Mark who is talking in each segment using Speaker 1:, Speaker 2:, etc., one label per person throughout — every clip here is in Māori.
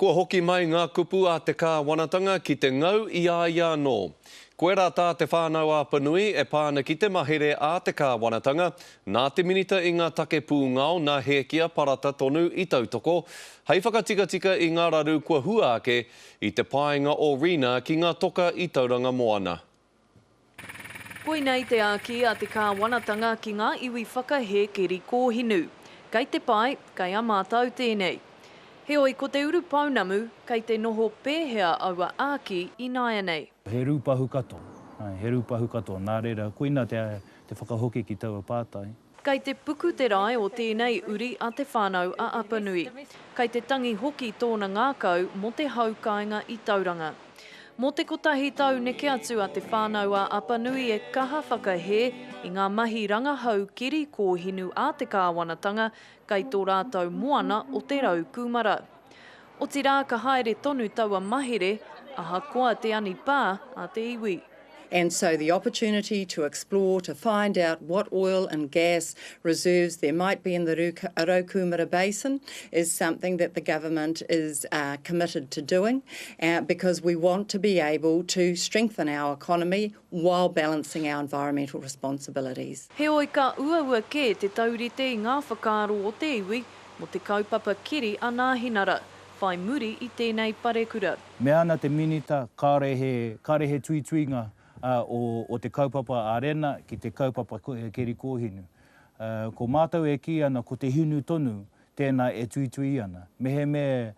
Speaker 1: Kua hoki mai ngā kupu a te Kāwanatanga ki te ngau i a ia anō. Koirā tā te Whānau Apanui e pā ana ki te mahere a te Kāwanatanga, nā te Minita i ngā Take Pūngao nā Hēkia Parata tonu i tautoko, hei whakatikatika i ngā raru kua hua ake i te paenga o Rina ki ngā toka i Tauranga Moana. Koinei
Speaker 2: te āki a te Kāwanatanga ki ngā iwi whakahē keri kōhinu. Kei te pae, kei a mātau tēnei. Heoi, ko te uru pounamu, kei te noho pēhea aua āki ināianei? He rūpahu
Speaker 3: katoa, he rūpahu katoa. Nā reira, koina te whakahoki ki taua pātai. Kei te puku
Speaker 2: te rae o tēnei uri a Te Whānau-a-Apanui. Kei te tangi hoki tōna ngākau mō te hau kāinga i Tauranga. Mō te kotahi tau neke atu a Te Whānau-a-Apanui e kaha whakahē i ngā mahi rangahau kiri kōhinu a te kāwanatanga kei tō rātou moana o te rau kūmara. Otirā ka haere tonu taua mahere, ahakoa te anipā a te iwi. And so the
Speaker 4: opportunity to explore, to find out what oil and gas reserves there might be in the Raukūmara Basin is something that the government is committed to doing because we want to be able to strengthen our economy while balancing our environmental responsibilities. Heoi ka
Speaker 2: uaua kē te taurite i ngā whakaaro o te iwi, mō te kaupapa keri a Nāhinara, whai muri i tēnei parekura. Mea ana te Minita,
Speaker 3: kāore he, kāore he tuituinga o te kaupapa arena ki te kaupapa keri kōhinu. Ko mātou e kī ana ko te hinu tonu tēnā e tuitui ana. Mehemea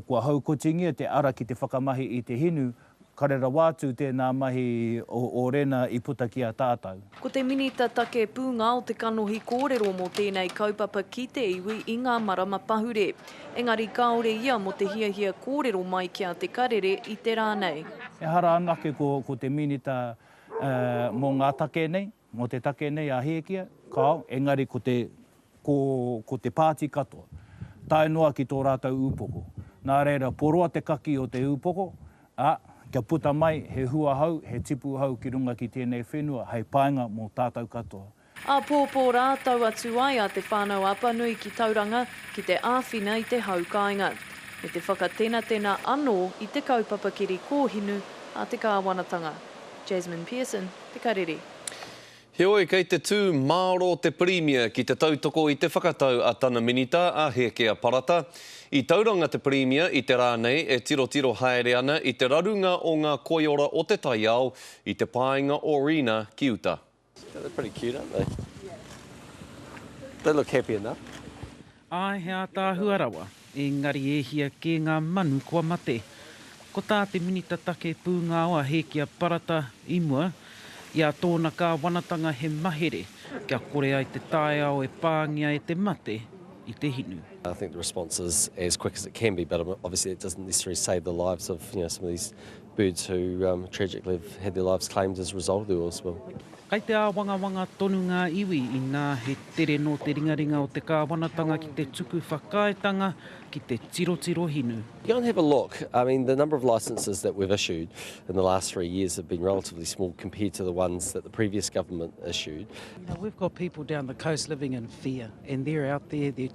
Speaker 3: Kua haukotingia te ara ki te whakamahi i te hinu, kare rawa atu tēnā mahi o Rena i puta ki a tātau. Ko te Minita
Speaker 2: Take Pūnga o te kanohi kōrero mō tēnei kaupapa ki te iwi i ngā marama pahure. Engari kāore ia mō te hiahia kōrero mai ki a Te Karere i te rā nei. Ehara anake
Speaker 3: ko te Minita mō ngā take nei. Mō te take nei a Hēkia, kāo, engari ko te, ko, ko te pāti katoa, tae noa ki tō rātou ūpoko. Nā reira, poroa te kaki o te ūpoko, ā, kia puta mai he hua hou, he tipu hou ki runga ki tēnei whenua hei painga mō tātou katoa. Āpōpō
Speaker 2: rā, tau atu ai a Te Whānau Apanui ki Tauranga ki te āwhina i te hau kāinga, me te whakatenatena anō i te kaupapa kiri kōhinu a te kāwanatanga. Jasmine Pearson. te karere. Heoi,
Speaker 1: kei te tū mārō te Pirimia ki te tautoko i te whakatau a tana Minita, a Hēkea Parata. I tauranga te Pirimia i te rā nei e tirotiro haere ana i te rarunga o ngā koiora o te taiao i te pāinga o Rina ki uta.
Speaker 5: Āe
Speaker 6: he ātaahua rawa, engari e hia kē ngā manu kua mate. Ko tā te Minita Take Pūngao a Hēkia Parata i mua, i a tōna kāwanatanga he mahere kia kore ai te taiao e pāngia e te mate i te hinu. I think the response
Speaker 5: is as quick as it can be but obviously it doesn't necessarily save the lives of you know some of these Birds who tragically have had their lives claimed as a result of the oil spill. Kai te āwangawanga
Speaker 6: tonu ngā iwi inā he tere nō te ringaringa o te kāwanatanga ki te tuku whakaaetanga ki te tirotiro hinu. Go and have a look.
Speaker 5: I mean, the number of licences that we've issued in the last three years have been relatively small compared to the ones that the previous government issued. Now, we've got people
Speaker 6: down the coast living in fear and they're out there, they're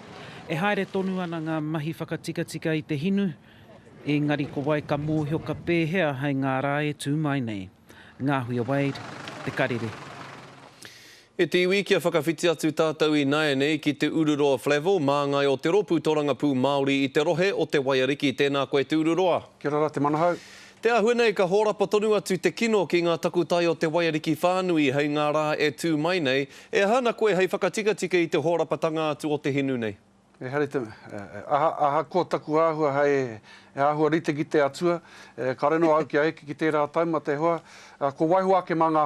Speaker 6: E haere tonu ana ngā mahi whakatikatika i te hinu, engari ko wai ka mōhio ka pēhea hai ngā rā e tū mai nei. Ngāhuia Wade, Te Karere.
Speaker 1: E te iwi kia whakawhiti atu tātou ināianei ki Te Ururoa Flavell, māngai o te rōpū torangapū Māori i te rohe o Te Waiariki. Tēnā koe Te Ururoa. Kia ora rā te manahau.
Speaker 7: Te āhua nei ka
Speaker 1: hōrapa tonu atu te kino ki ngā takutai o te waiariki whānui hei ngā rā e tū mai nei, e aha ana koe hei whakatikatika i te hōrapatanga atu o te hinu nei? Ehara i te
Speaker 7: mea, ahakoa taku āhua hei āhua rite ki te Atua, kāore noa au kia eke ki tērā taumata e hoa, kua waiho ake mā ngā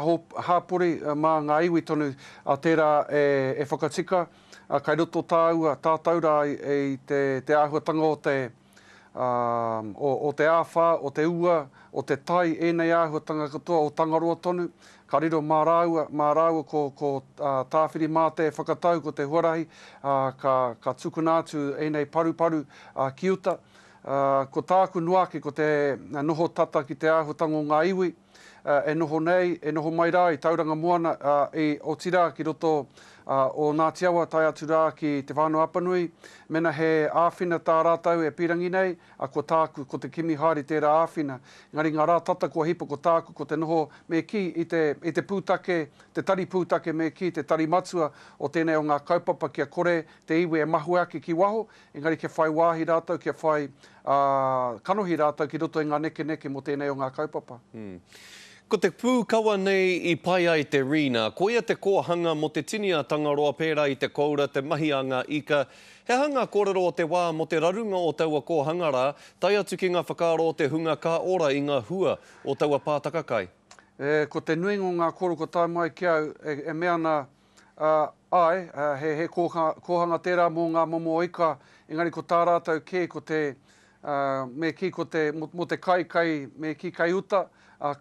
Speaker 7: hāpori, mā ngā iwi tonu tērā e whakatika, kai roto tāua, tātou rā i te āhuatanga o te. ā, o, o te āwhā, o te ua, o te tai, ēnei āhuatanga katoa, o Tangaroa tonu, ka riro mā rāua, mā rāua ko, ko, ā, Tāwhiri-mātea e whakatau ko te huarahi, ā, ka, ka tukuna atu ēnei paruparu, ā, ki uta. Ā, ko tāku noa ake ko te noho tata ki te āhuatanga o ngā iwi. e noho nei, e noho mai rā i Tauranga Moana, ā, i, otirā, ki roto, ā, o Ngāti Awa tae atu rā ki Te Whānau-a-Apanui, mena he āwhina tā rātou e pīrangi nei, a, ko tāku, ko te kimi haere tērā āwhina. Engari ngā rā tata kua hipa ko tāku ko te noho me kī i te, i te pūtake, te tari pūtake me kī te tari matua o tēnei o ngā kaupapa kia kore te iwi e mahue ake ki waho, Engari kia whai wāhi rātou, kia whai kanohi rātou ki roto i ngā nekeneke mō tēnei o ngā kaupapa. Ko
Speaker 1: te pūkawa nei i pai ai te Rina, koia te kōhanga mō te tini a Tangaroa pērā i te koura, te mahi a ngā ika. He aha ngā kōrero o te wā mō te rarunga o taua kōhanga rā, tae atu ki ngā whakaaro o te hunga ka ora i ngā hua o taua pātaka kai? E, ko te
Speaker 7: nuinga o ngā kōrero kua tae mai ki au e mea ana Āe, he kōhanga tērā mō ngā momo ika, engari ko tā rātou kē ko te, me kī ko te, mō te kai, kai, me kī kai uta,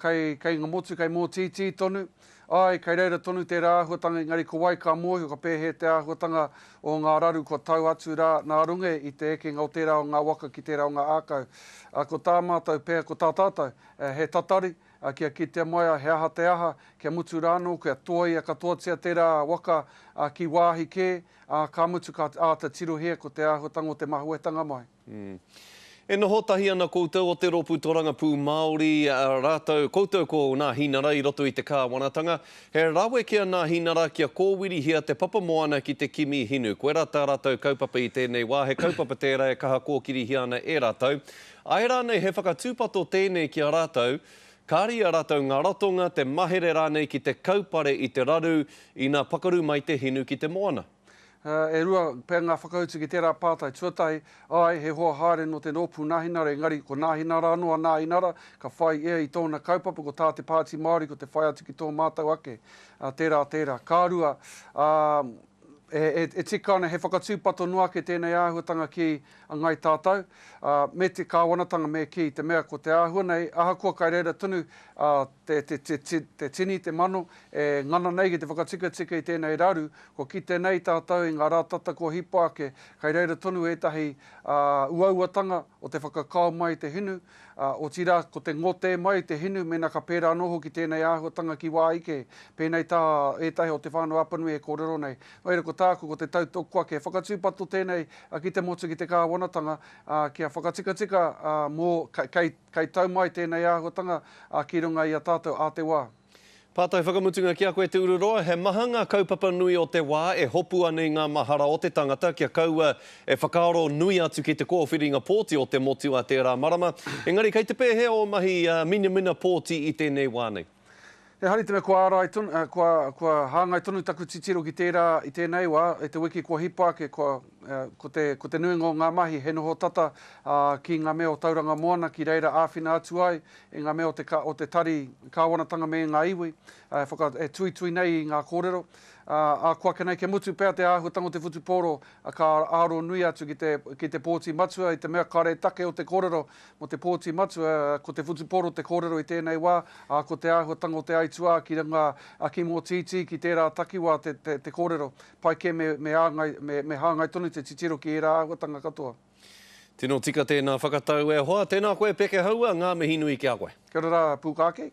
Speaker 7: kai, kai ngā motu, kai mōtītī tonu. Āe, kai reira tonu tērā āhuatanga, engari ko wai ka mōhio, ka pēhea te āhuatanga o ngā raru kua tau atu rā nā runga i te ekenga o tērā o ngā waka ki tērā o ngā ākau. Ko tā mātou pea, ko tā tātou, he tatari, Ā, kia kitea mai a he aha te aha, kia mutu rānō, kia toaia katoatia tērā waka, ā, ki wāhi kē, ā, ka mutu ka āta tirohia ko te āhuatanga o te mahuetanga mai. Umm. E
Speaker 1: noho tahi ana koutou o te Ropu Torangapū Māori rātou, koutou ko Nā Hinara i roto i te Kāwanatanga. He rawe ki a Nā Hinara kia kōwirihia te papa moana ki te kimi hinu. Koirā tā rātou kaupapa i tēnei wā, he kaupapa tērā e kaha kōkirihia ana e rātou. Āe rānei he whakatūpato tēnei ki a rātou, kāre i a rātou ngā ratonga, te mahere rānei ki te kaupare i te raru ina pakaru mai te hinu ki te moana? E rua
Speaker 7: pea ngā whakautu ki tērā pātai tuatahi, āe, he hoa haere nō te rōpū Nāhinara engari ko Nāhinara anō a Nāhinara ka whai ia i tōna kaupapa ko tā te Pāti Māori ko te whai atu ki tō mātou ake, tērā, tērā. Ka rua, ā, e tika ana he whakatūpato noa ake tēnei āhuatanga ki a Ngai Tātou, ā, me te Kāwanatanga me kī, i te mea ko te āhua nei, ahakoa kai reira tonu ā, te, te, te, te, te tini, te mano, e ngana nei ki te whakatikatika i tēnei raru, kua kite nei tātou i ngā rā tata kua hipa ake, kai reira tonu ētahi ā, uauatanga o te whakakao mai i te hinu, ā, otirā ko te ngotē mai i te hinu mēnā ka pērā anō hoki tēnei āhuatanga ki wā ike, pēnei tā ētahi o Te Whānau Apanui e kōrero nei, Wai rā ko tāku ko te tautoko ake. Whakatūpato tēnei ki te motu ki te kāwanatanga kia whakatikatika mō kei tau mai tēnei āhuatanga ki runga i a tātou ā te wā. Pātai
Speaker 1: whakamutunga ki a koe Te Ururoa, he maha ngā kaupapa nui o te wā e hopu ana i ngā mahara o te tangata kia kaua e whakaaro nui atu ki te kōwhiringa pōti o te motu a tērā marama, engari kei te pēhea ō mahi minamina pōti i tēnei wā nei? He hari tena
Speaker 7: kua arai tonu, eh, kua, kua hāngai tonu taku titiro ki tērā i tēnei wā, i te wiki kua hipa ake, kua, eh, ko, te, ko te nuinga o ngā mahi he noho tata ah, ki ngā mea o Tauranga Moana ki reira āwhina atu ai i ngā mea o te, ka, o te tari kāwanatanga me ngā iwi eh, e, whaka, e tuitui nei i ngā kōrero. Ah, ah, kua ake nei kia mutu pea te āhuatanga o te whutupōro, ah, ka aro nui atu ki te, ki te pōti matua i te mea kare take o te kōrero Mō te pōti matua, ko te whutupōro te kōrero i tēnei wā, ā, ko te āhuatanga o te aituā ki runga a Kim Ōtītī ki tērā takiwā te kōrero, pai kē me āngai, me hāngai tonu te titiro ki ērā āhuatanga katoa. Tino
Speaker 1: tika tēnā
Speaker 7: whakatau
Speaker 1: e hoa. Tēnā koe Pekehaua, ngā mihi nui ki a koe. Kia ora rā Pūkākei.